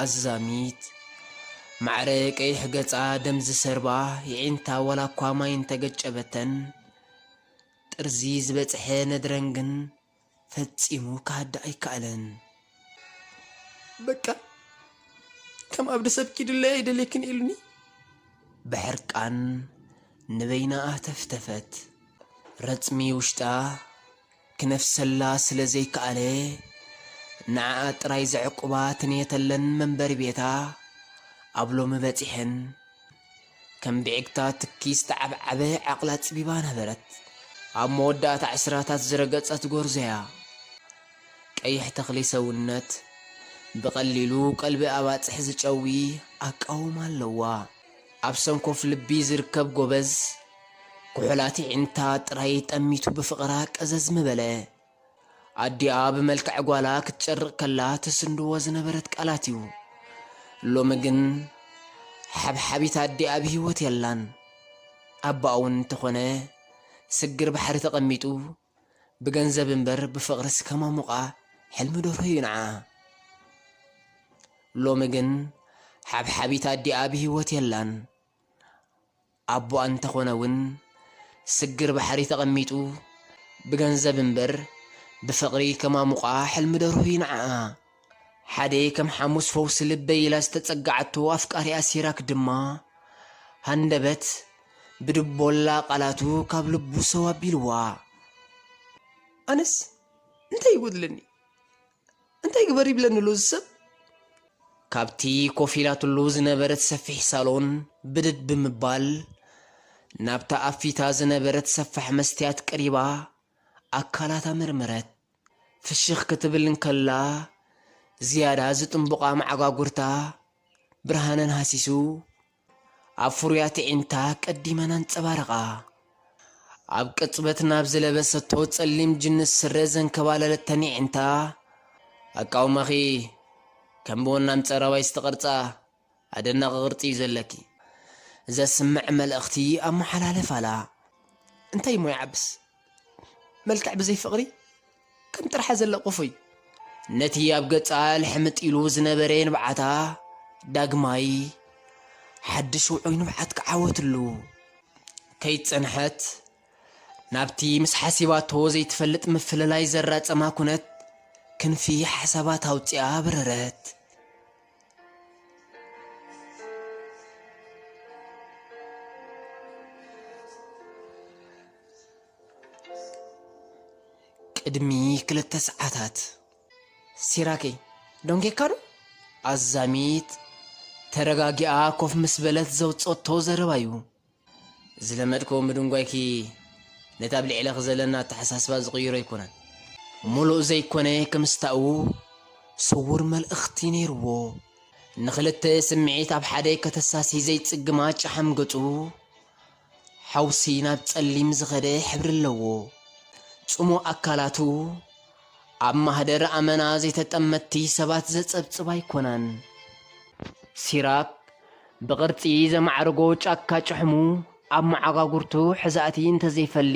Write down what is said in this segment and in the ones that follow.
ኣዛሚት፣ ማዕረ ቀይሕ ገጻ ደም ዝሰርባ፣ የዒንታ ዋላኳ ማይ እንተገጨበተን፣ ጥርዚ ዝበጽሐ ነድረን ግን ፈጺሙ ክሃድእ ኣይከኣለን። በቃ ከም ኣብዲ ሰብ ኪድለይ ኣይደልየክን ኢሉኒ። ብሕርቃን ንበይና ኣህተፍተፈት። ረጽሚ ውሽጣ ክነፍሰላ ስለ ዘይከኣለ፣ ንዓኣ ጥራይ ዘዕቁባ ትንየተለን መንበሪ ቤታ ኣብ ሎሚ በጺሐን። ከም ብዒግታ ትኪ ዝተዓብዓበ ዓቕላ ኣጽቢባ ነበረት። ኣብ መወዳእታ ዕስራታት ዝረገጸት ጎርዞ'ያ። ቀይሕ ተኽሊ ሰውነት፣ ብቐሊሉ ቀልቢ ኣባጽሕ ዝጨዊ ኣቃውማ ኣለዋ። ኣብ ሰንኮፍ ልቢ ዝርከብ ጎበዝ፣ ኩሑላት የዒንታ ጥራይ ጠሚቱ ብፍቕራ ቀዘዝ ምበለ። ኣዲኣ ብመልክዕ ጓላ ክትጨርቕ ከላ ትስንድዎ ዝነበረት ቃላት'ዩ። ሎሚ ግን ሓብሓቢት ኣዲኣ ብህይወት የላን። ኣቦኣ'ውን እንተኾነ ስግር ባሕሪ ተቐሚጡ ብገንዘብ እምበር ብፍቕርስ ከማሙቓ ሕልሚ ደርሆ'ዩ ንዓ። ሎሚ ግን ሓብሓቢት ኣዲኣ ብህይወት የላን። ኣቦኣ እንተኾነ ውን ስግር ባሕሪ ተቐሚጡ ብገንዘብ እምበር ብፍቕሪ ከማሙቓ ሕልሚ ደርሁ ዩ ንዓኣ። ሓደይ ከም ሓሙስ ፈውሲ ልበይ ኢላ ዝተጸገዓቶ ኣፍቃሪኣ ሲራክ ድማ ሃንደበት ብድቦላ ቃላቱ ካብ ልቡ ሰው ኣቢልዋ። ኣነስ እንታይ ይጎድለኒ እንታይ ግበር ይብለኒ ኣሎ እዚ ሰብ? ካብቲ ኮፍ ኢላትሉ ዝነበረት ሰፊሕ ሳሎን ብድድ ብምባል ናብታ ኣብ ፊታ ዝነበረት ሰፋሕ መስትያት ቀሪባ ኣካላታ መርመረት። ፍሽኽ ክትብል እንከላ ዝያዳ ዝጥንቡቓ መዓጓጉርታ ብርሃነን ሃሲሱ ኣብ ፍሩያት ኣዒንታ ቀዲመን ኣንጸባረቓ። ኣብ ቅጽበት ናብ ዝለበሰቶ ጸሊም ጅንስ ስረ ዘንከባለለተን ኣዒንታ፣ ኣቃውማኺ ከም ብወናም ጸራዋይ ዝተቐርጸ ኣደናቒ ቅርጺ'ዩ ዘለኪ። ዘስምዕ መልእኽቲ ኣመሓላለፋላ። እንታይ'ሞ ይዓብስ! መልክዕ ብዘይ ፍቕሪ ከም ጥርሓ ዘለ ቁፉይ። ነቲ ኣብ ገጻ ልሕምጥ ኢሉ ዝነበረ ንብዓታ ዳግማይ ሓድሽ ውዑይ ንብዓት ክዓወትሉ ከይጸንሐት ናብቲ ምስ ሓሲባቶ ዘይትፈልጥ ምፍልላይ ዘራጸማ ኩነት ክንፊ ሓሳባት ኣውጺኣ በረረት። ቅድሚ ክልተ ሰዓታት ሲራከይ ደንጌካ ዶ ኣዛሚት ተረጋጊኣ ኮፍ ምስ በለት ዘውፀቶ ዘረባ እዩ። ዝለመድክዎ ምድንጓይኪ ነቲ ኣብ ልዕለኺ ዘለኒ ኣተሓሳስባ ዝቕይሮ ኣይኮነን። ምሉእ ዘይኮነ ክምስታኡ ስዉር መልእኽቲ ነይርዎ። ንኽልተ ስምዒት ኣብ ሓደ ከተሳሲ ዘይጽግማ ጨሓም ገጹ ሓውሲ ናብ ጸሊም ዝኸደ ሕብሪ ኣለዎ። ጽሙእ ኣካላቱ። ኣብ ማህደር ኣመና ዘይተጠመትቲ ሰባት ዘጸብጽብ ኣይኮናን። ሲራክ፣ ብቅርጺ ዘማዕርጎ ጫካ ጭሕሙ ኣብ መዓጓጉርቱ ሕዛእቲ እንተዘይፈሊ፣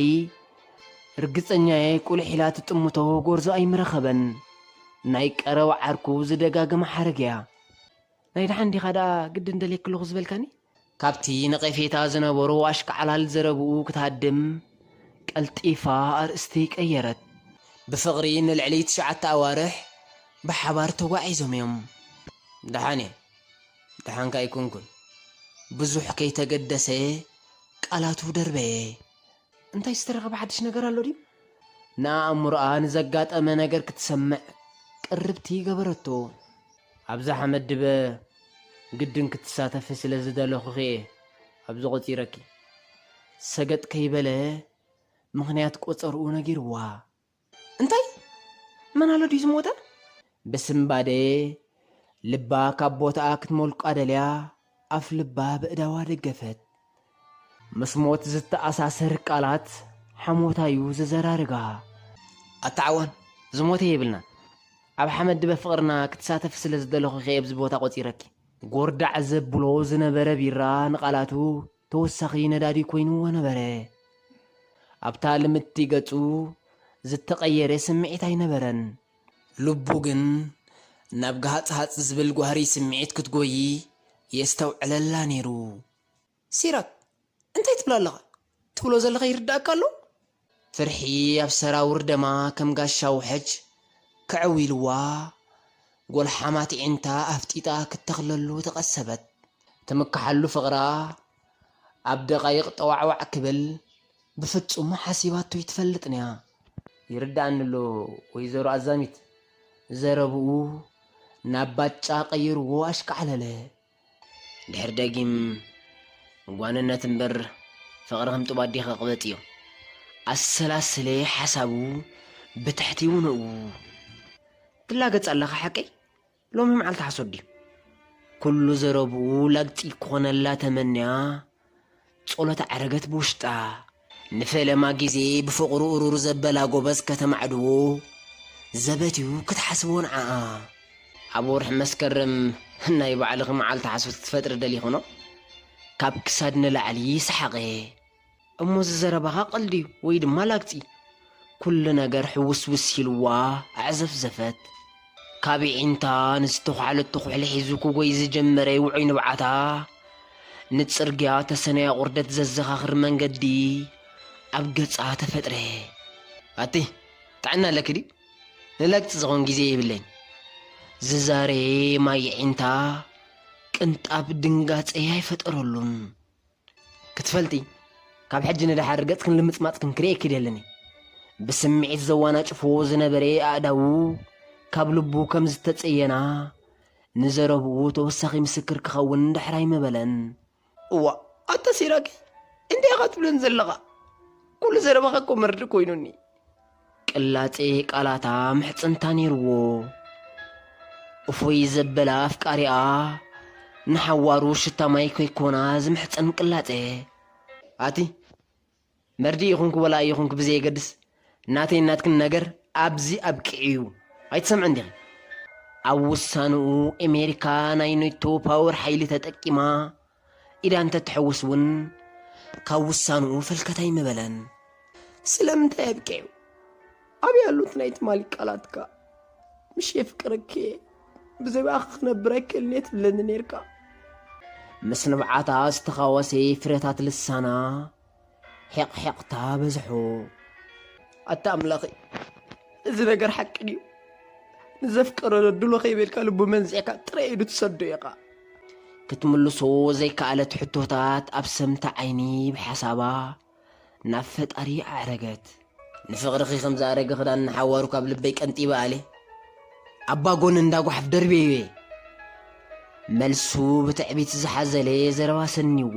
ርግጸኛ'የ ቁሊሕ ኢላ ትጥምቶ ጎርዞ ኣይምረኸበን። ናይ ቀረባ ዓርኩ ዝደጋግማ ሓረግ'ያ። ናይ ደሓን ዲኻ ደኣ ግድን ደልየኪ ኣለኹ ዝበልካኒ? ካብቲ ነቐፌታ ዝነበሮ ኣሽካዕላል ዘረብኡ ክትሃድም ቀልጢፋ ኣርእስቲ ቀየረት። ብፍቕሪ ንልዕሊ ትሽዓተ ኣዋርሕ ብሓባር ተጓዒዞም እዮም። ደሓን እየ። ደሓንከ ኣይኮንኩን። ብዙሕ ከይተገደሰ ቃላቱ ደርበየ። እንታይ ዝተረኸበ ሓድሽ ነገር ኣሎ ድዩ? ንኣእምሮኣ ንዘጋጠመ ነገር ክትሰምዕ ቅርብቲ ገበረቶ። ኣብዝሓ መድበ ግድን ክትሳተፊ ስለ ዝደለኹኺ'የ ኣብዚ ቆጺረኪ። ሰገጥ ከይበለ ምኽንያት ቆጸርኡ ነጊርዋ። እንታይ? መን ኣሎ ድዩ ዝሞተ? ብስንባደ ልባ ካብ ቦታኣ ክትሞልቃ ደልያ። ኣፍ ልባ በእዳዋ ደገፈት። ምስ ሞት ዝተኣሳሰር ቃላት ሓሞታ'ዩ ዘዘራርጋ። ኣታ ዓዋን! ዝሞተ የብልናን። ኣብ ሓመድ ድበ ፍቕርና ክትሳተፊ ስለ ዝደለኹ'ኸ የብዚ ቦታ ቆጺረኪ። ጎርዳዕ ዘብሎ ዝነበረ ቢራ ንቓላቱ ተወሳኺ ነዳዲ ኮይንዎ ነበረ። ኣብታ ልምድቲ ገጹ ዝተቐየረ ስምዒት ኣይነበረን። ልቡ ግን ናብ ግሃጽሃጽ ዝብል ጓህሪ ስምዒት ክትጎዪ የስተውዕለላ ነይሩ። ሲራክ! እንታይ ትብል ኣለኻ? ትብሎ ዘለኻ ይርድኣካ ኣሎ? ፍርሒ ኣብ ሰራውር ደማ ከም ጋሻ ውሕጅ ከዐው ኢልዋ፣ ጐልሓማት ኣዒንታ ኣፍጢጣ ክትተኽለሉ ተቐሰበት። ትምክሓሉ ፍቕራ ኣብ ደቓይቕ ጠዋዕዋዕ ክብል ብፍጹም ሓሲባቶ ኣይትፈልጥን'ያ። ይርድኣኒ'ሎ ወይዘሮ ኣዛሚት። ዘረብኡ ናብ ባጫ ቀይርዎ ኣሽካዕለለ። ድሕሪ ደጊም ጓንነት እምበር ፍቕሪ ከም ጡብ ኣዴ ክቕበጥ እዩ ኣሰላስለ ሓሳቡ ብትሕቲ ውንኡ ትላገጽ ኣለኻ ሓቀይ ሎሚ መዓልቲ ሓሶት ድዩ ኩሉ ዘረብኡ ላግጺ ክኾነላ ተመንያ ጸሎት ዓረገት ብውሽጣ፣ ንፈለማ ግዜ ብፍቕሩ እሩር ዘበላ ጎበዝ ከተማዕድዎ ዘበት'ዩ ክትሓስቦ ንዓኣ። ኣብ ወርሒ መስከረም ናይ ባዕልኺ መዓልቲ ሓሶት ክትፈጥሪ ደሊኽኖ? ካብ ክሳድ ንላዕሊ ሰሓቐ። እሞ እዚ ዘረባኻ ቀልዲ'ዩ ወይ ድማ ላግጺ? ኩሉ ነገር ሕውስውስ ኢልዋ ኣዕዘፍዘፈት። ካብ የዒንታ ንዝተዃዕለቶ ኩሕሊ ሒዙ ክጎይ ዝጀመረ ውዑይ ንብዓታ፣ ንጽርግያ ተሰነያ ቁርደት ዘዘኻኽር መንገዲ ኣብ ገጻ ተፈጥረ። ኣቲ ጥዕና ኣለኪ ድዩ? ንላግጺ ዝኸውን ግዜ የብለይን። ዝዛረየ ማይ የዒንታ ቅንጣብ ድንጋጸ ኣይፈጠረሉን። ክትፈልጢ፣ ካብ ሕጂ ንደሓር ገጽክን ልምጽማጽክን ክርእየኪ ደልን እየ። ብስምዒት ዘዋናጭፍዎ ዝነበረ ኣእዳዉ ካብ ልቡ ከም ዝተጸየና፣ ንዘረብኡ ተወሳኺ ምስክር ክኸውን ድሕር ኣይመበለን። እዋእ ኣታ ሲራኪ እንታይ ኢኻ ትብለኒ ዘለኻ? ኩሉ ዘረባኺ እኮ መርድእ ኮይኑኒ። ቅላጼ ቃላታ ምሕጽንታ ነይርዎ። እፎይ ዘበላ ኣፍቃሪኣ ንሓዋሩ ሽታ ማይ ከይኮና ዝምሕጸን ቅላጼ። ኣቲ መርድእ ይኹንኪ ወላ ኣይኹንኪ ብዘየገድስ ናተይን ናትክን ነገር ኣብዚ ኣብቂዑ'ዩ ኣይትሰምዕን ዲኺ? ኣብ ውሳንኡ ኤሜሪካ ናይ ኔቶ ፓወር ሓይሊ ተጠቂማ ኢዳ እንተ ትሕውስ እውን ካብ ውሳንኡ ፈልከት ኣይምበለን። ስለምንታይ ኣብቂዑ? ኣበይ ኣሎ እቲ ናይ ትማሊ ቃላትካ? ምሽ የፍቅረኪ እየ፣ ብዘይብኣኺ ክነብር ኣይክእልን እየ ትብለኒ ኔርካ። ምስ ንብዓታ ዝተኻወሰ ፍረታት ልሳና ሒቕሒቕታ በዝሑ። ኣታ ኣምላኸይ እዚ ነገር ሓቂ ድዩ? ንዘፍቀሮ ነድሎ ከይበልካ ልቡ መንዚዕካ ጥራይ ኢዱ ትሰዶ ኢኻ። ክትምልሶ ዘይከኣለት ሕቶታት ኣብ ሰምታ ዓይኒ ብሓሳባ ናብ ፈጣሪ ኣዕረገት። ንፍቕርኺ ከም ዝኣረገ ክዳን ንሓዋሩ ካብ ልበይ ቀንጢበ ኣልየ ኣባ ጎኒ እንዳ ጓሓፍ ደርብየዮ እየ። መልሱ ብትዕቢት ዝሓዘለ ዘረባ ሰኒዎ።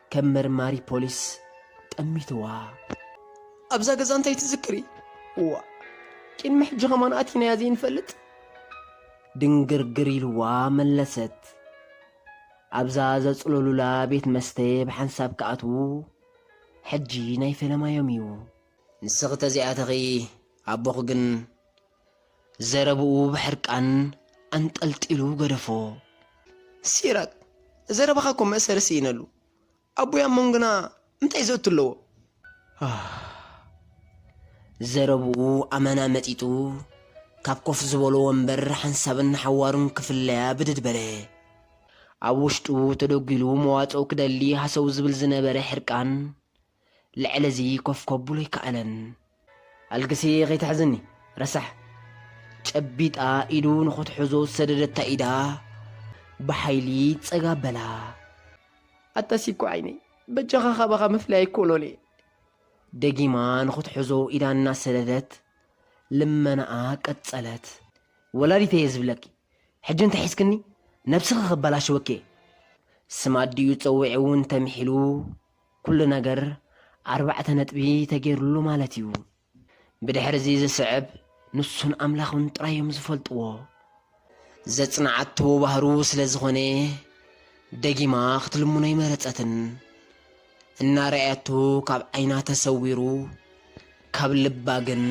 ከም መርማሪ ፖሊስ ጠሚትዋ። ኣብዛ ገዛ እንታይ ትዝክሪ? እዋእ ቅድሚ ሕጂ ከማን ኣቲናያ ዘይንፈልጥ? ድንግርግር ኢልዋ መለሰት። ኣብዛ ዘጽለሉላ ቤት መስተ ብሓንሳብ ክኣትዉ ሕጂ ናይ ፈለማዮም'ዩ። ንስኺ ተዘይኣተኺ ኣቦኺ ግን ዘረብኡ ብሕርቃን ኣንጠልጢሉ ገደፎ። ሲራክ፣ ዘረባኻ እኮ መእሰሪ ስኢነሉ። ኣቦይ ኣብ መንጎና እንታይ ዘእቱ ኣለዎ? ዘረብኡ ኣመና መጢጡ ካብ ኮፍ ዝበሎ ወንበር ሓንሳብን ሓዋሩን ክፍለያ ብድድ በለ። ኣብ ውሽጡ ተደጒሉ መዋጽኦ ክደሊ ሃሰው ዝብል ዝነበረ ሕርቃን ልዕሊ እዚ ኮፍ ከብሎ ኣይከኣለን። ኣልግሲ ከይትሕዝኒ ረሳሕ። ጨቢጣ ኢዱ ንኽትሕዞ ዝሰደደታ ኢዳ ብሓይሊ ጸግ ኣበላ። ኣታ ሲኮ ዓይነይ በጃኻ ካባኻ ምፍላይ ኣይኮኖን'የ። ደጊማ ንኽትሕዞ ኢዳ እናሰደደት ልመናኣ ቀጸለት። ወላዲተይ'የ ዝብለኪ። ሕጂ እንተ ሒዝክኒ ነብስኺ ከበላሽወኪ'የ። ስም ኣዲኡ ጸዊዑ'ውን ተምሒሉ ኩሉ ነገር ኣርባዕተ ነጥቢ ተገይሩሉ ማለት እዩ። ብድሕርዚ ዝስዕብ ንሱን ኣምላኹን ጥራይ እዮም ዝፈልጥዎ። ዘጽንዓቶ ባህሩ ስለ ዝኾነ ደጊማ ክትልምኖ ኣይመረጸትን። እናረኣያቶ ካብ ዓይና ተሰዊሩ፣ ካብ ልባ ግን።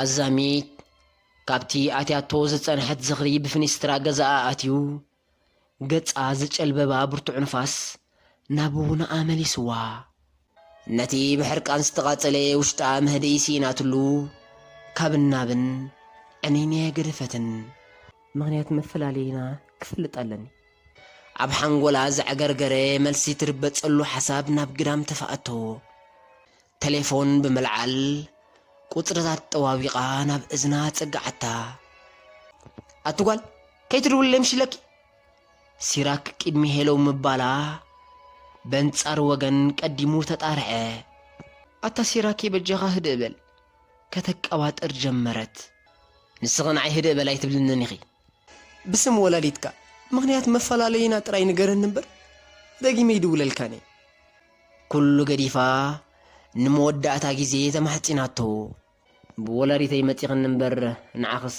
ኣዛሚት ካብቲ ኣትያቶ ዝጸንሐት ዝኽሪ ብፍኒስትራ ገዛኣ ኣትዩ ገጻ ዝጨልበባ ብርቱዕ ንፋስ ናብ ውናኣ መሊስዋ። ነቲ ብሕርቃን ዝተቓጸለ ውሽጣ መህድኢ ስኢናትሉ ካብን ናብን ዕንይንየ ገደፈትን። ምኽንያት መፈላለዪና ክፈልጥ ኣለኒ። ኣብ ሓንጎላ ዘዕገርገረ መልሲ ትርበጸሉ ሓሳብ ናብ ግዳም ተፋኣተዎ። ተሌፎን ብምልዓል ቁጽርታት ጠዋዊቓ ናብ እዝና ኣጸግዓታ። ኣቲ ጓል ከይትድውልለይ ምሽ ኢለኪ? ሲራክ ቅድሚ ሄለው ምባላ በንጻር ወገን ቀዲሙ ተጣርዐ። ኣታ ሲራኬ በጃኻ ህድእ በል። ከተቀባጥር ጀመረት። ንስኺ ንዓይ ህድእ በል ኣይትብልንን ኢኺ። ብስም ወላዲትካ ምኽንያት መፈላለይና ጥራይ ንገረኒ እምበር ደጊመ ኣይድውለልካን እየ። ኩሉ ገዲፋ ንመወዳእታ ግዜ ተማሕጺናቶ። ብወላዲተይ መጺኽኒ እምበር ንዓኽስ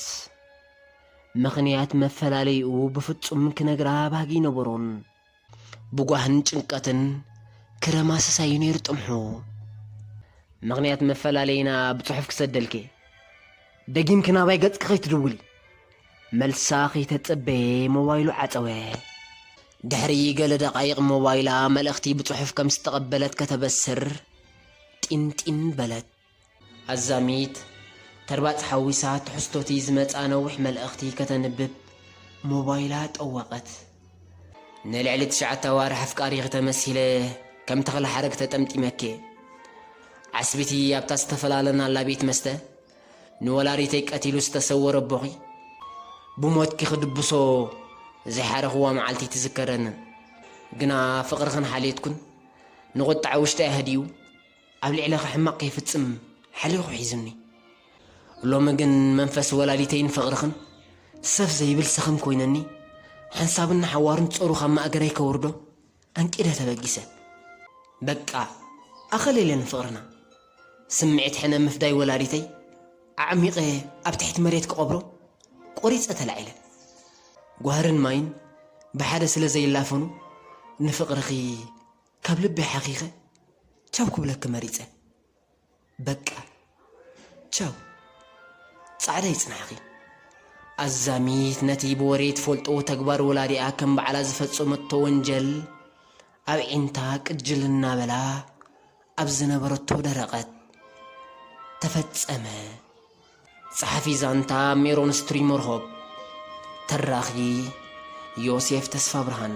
ምኽንያት መፈላለዪኡ ብፍጹም ክነግራ ባህጊ ኣይነበሮን። ብጓህን ጭንቀትን ክረማ ሰሳዩ ነይሩ ጥምሑ። ምኽንያት መፈላለዪና ብጽሑፍ ክሰደልኪ፣ ደጊምኪ ናባይ ገጽኪ ከይትድውሊ። መልሳ ከይተጸበየ ሞባይሉ ዓጸወ። ድሕሪ ገለ ደቓይቕ ሞባይላ መልእኽቲ ብጽሑፍ ከም ዝተቐበለት ከተበስር ጢንጢን በለት። ኣዛሚት፣ ተርባጽ ሓዊሳ ትሕዝቶ'ቲ ዝመጽኣ ነዊሕ መልእኽቲ ከተንብብ ሞባይላ ጠወቐት። ንልዕሊ ትሽዓተ ኣዋርሕ ኣፍቃሪኺ ተመሲለ ከም ተኽለ ሓረግ ተጠምጢመኪ'የ። ዓስቢ'ቲ ኣብታ ዝተፈላለናላ ቤት መስተ ንወላዲተይ ቀቲሉ ዝተሰወረ ኣቦኺ ብሞትኪ ክድብሶ ዘይሓረኽዋ መዓልቲ ትዝከረንን። ግና ፍቕርኽን ሓልዮትኩን ንቑጠዐ ውሽጠይ ኣህዲኡ ኣብ ልዕለኻ ሕማቕ ከይፍጽም ሓሊኹ ሒዙኒ። ሎሚ ግን መንፈስ ወላዲተይን ፍቕርኽን ሰፍ ዘይብል ሰኽም ኮይነኒ፣ ሓንሳብን ንሓዋሩን ጾሩ ካብ ማእገረይ ከውርዶ ኣንቂደ ተበጊሰ። በቃ ኣኸሌለ ንፍቕርና! ስምዒት ሕነ ምፍዳይ ወላዲተይ ኣዕሚቐ ኣብ ትሕቲ መሬት ክቐብሮ ቆሪጸ ተላዒለ። ጓህርን ማይን ብሓደ ስለ ዘይላፈኑ ንፍቕርኺ ካብ ልበይ ሓኺኸ ቻው ክብለኪ መሪጸ በቃ ቻው ጻዕዳ ይጽናሕኺ። ኣዛሚት ነቲ ብወሬ ትፈልጦ ተግባር ወላዲኣ ከም ባዕላ ዝፈጸመቶ ወንጀል ኣብዒንታ ቅጅል እናበላ ኣብ ዝነበረቶ ደረቐት። ተፈጸመ። ጸሓፊ ዛንታ፣ ሜሮን ስትሪሞርሆፕ፣ ተራኺ፣ ዮሴፍ ተስፋብርሃን።